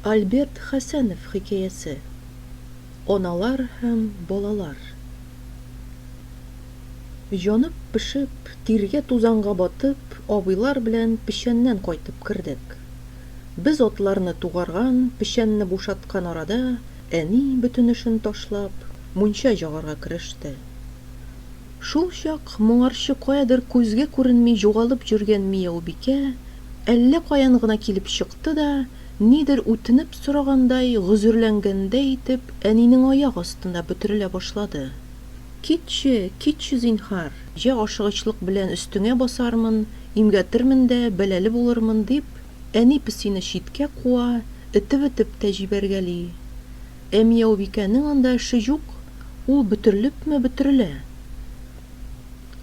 Альберт Хәсәнов хикәясе. Аналар һәм балалар. Янып-пешеп, тиргә-тузанга батып, абыйлар белән печәннән кайтып кердек. Без атларны тугарган, печәнне бушаткан арада, әни, бөтен эшен ташлап, мунча җагарга кереште. Шулчак моңарчы каядыр күзгә күренми югалып йөргән Мияубикә әллә каян гына килеп чыкты да, Нидер үтенеп сорагандай, гозерләнгәндәй итеп, әнинең аяк астында бөтерелә башлады. Китче, китче, зинһар! Йә ашыгычлык белән өстеңә басармын, имгәтермен дә, бәлале булырмын, дип, әни песине читкә куа, этеп-этеп тә җибәргәли. Ә Мияубикәнең анда эше юк, ул бөтерелепме бөтерелә.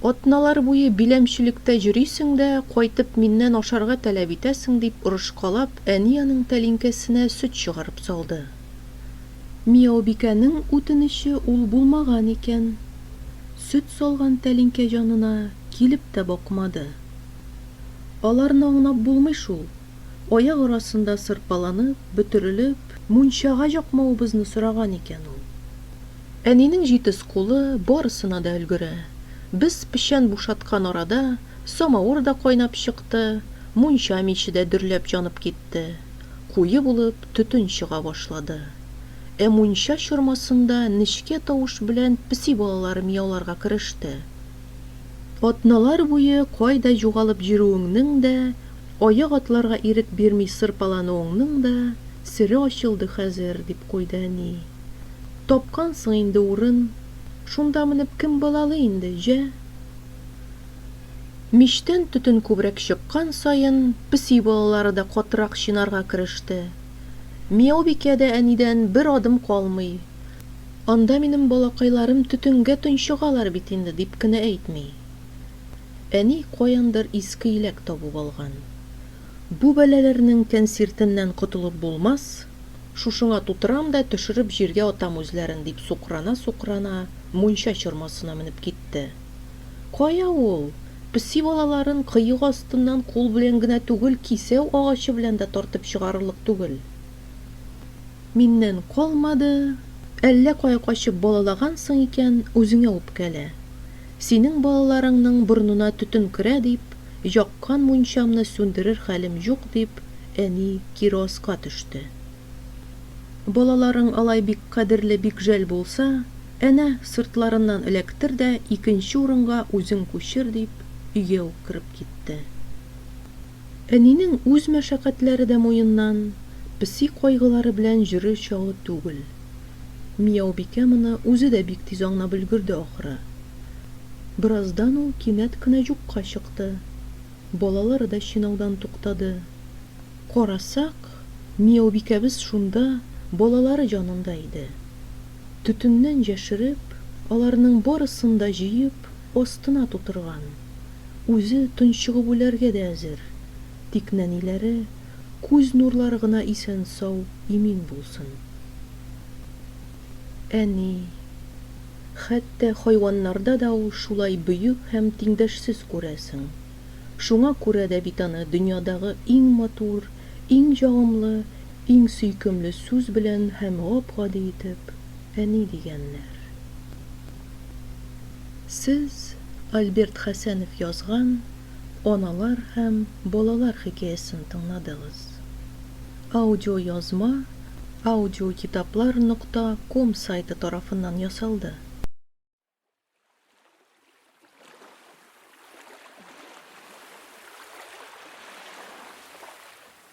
Атналар буе биләмчелектә йөрисең дә, кайтып миннән ашарга таләп итәсең, дип орышкалап, әни аның тәлинкәсенә сөт чыгарып салды. Мияубикәнең үтенече ул булмаган икән. Сөт салган тәлинкә янына килеп тә бакмады. Аларны аңлап булмый шул, аяк арасында сырпаланып, бөтерелеп, мунчага якмавыбызны сораган икән ул. Әнинең җитез кулы барысына да өлгерә. Без печән бушаткан арада самавыр да кайнап чыкты, мунча миче дә дөрләп җанып китте. Куе булып төтен чыга башлады. Ә мунча чормасында нечкә тавыш белән песи балалары мияуларга кереште. Атналар буе кайда югалып йөрүеңнең дә, аяк атларга ирек бирми сырпалануыңның да сере ачылды хәзер, дип куйды әни. Тапкансың инде урын, Шунда менеп кем балалы инде, җә? Мичтән төтен күбрәк чыккан саен, песи балалары да катырак чинарга кереште. Мияубикә дә әнидән бер адым калмый. Анда минем балакайларым төтенгә тончыгалар бит инде, дип кенә әйтми. Әни каяндыр иске иләк табып алган. Бу бәлаләрнең тәнсиртеннән котылып булмас, шушыңа тутырам да төшереп җиргә атам үзләрен, дип сукрана-сукрана, мунча чормасына менеп китте. Кая ул, песи балаларын кыек астыннан кул белән генә түгел, кисәү агачы белән дә тартып чыгарырлык түгел. Миннән калмады, әллә кая качып балалагансың икән, үзеңә үпкәлә. Синең балаларыңның борынына төтен керә, дип, Яккан мунчамны сүндерер хәлем юк, дип, әни кироска төште. Балаларың алай бик кадерле, бик жәл булса, әнә, сыртларыннан эләктер дә икенче урынга үзең күчер, дип, өйгә үк кереп китте. Әнинең үз мәшәкатьләре дә муеннан, песи кайгылары белән җөрү чагы түгел. Мияубикә моны үзе дә бик тиз аңлап өлгерде ахры. Бераздан ул кинәт кенә юкка чыкты. Балалары да чинаудан туктады. Карасак, Мияубикәбез шунда, балалары җанында иде. Төтеннән җәшереп, аларның барысын да җыеп, астына тутырган. Үзе тончыгып үләргә дә әзер. Тик нәниләре, Күз нурлары гына исән-сау, имин булсын. Әни. Хәтта хайваннарда да ул шулай бөек һәм тиңдәшсез күрәсең. Шуңа күрә дә бит аны дөньядагы иң матур, иң ягымлы, иң сөйкемле сүз белән һәм гап-гади итеп Әни дигәннәр. Сез Альберт Хәсәнов язган. Аналар һәм балалар хикәясен тыңладыгыз. Аудиоязма audiokitaplr нокта ком сайты тарафыннан ясалды.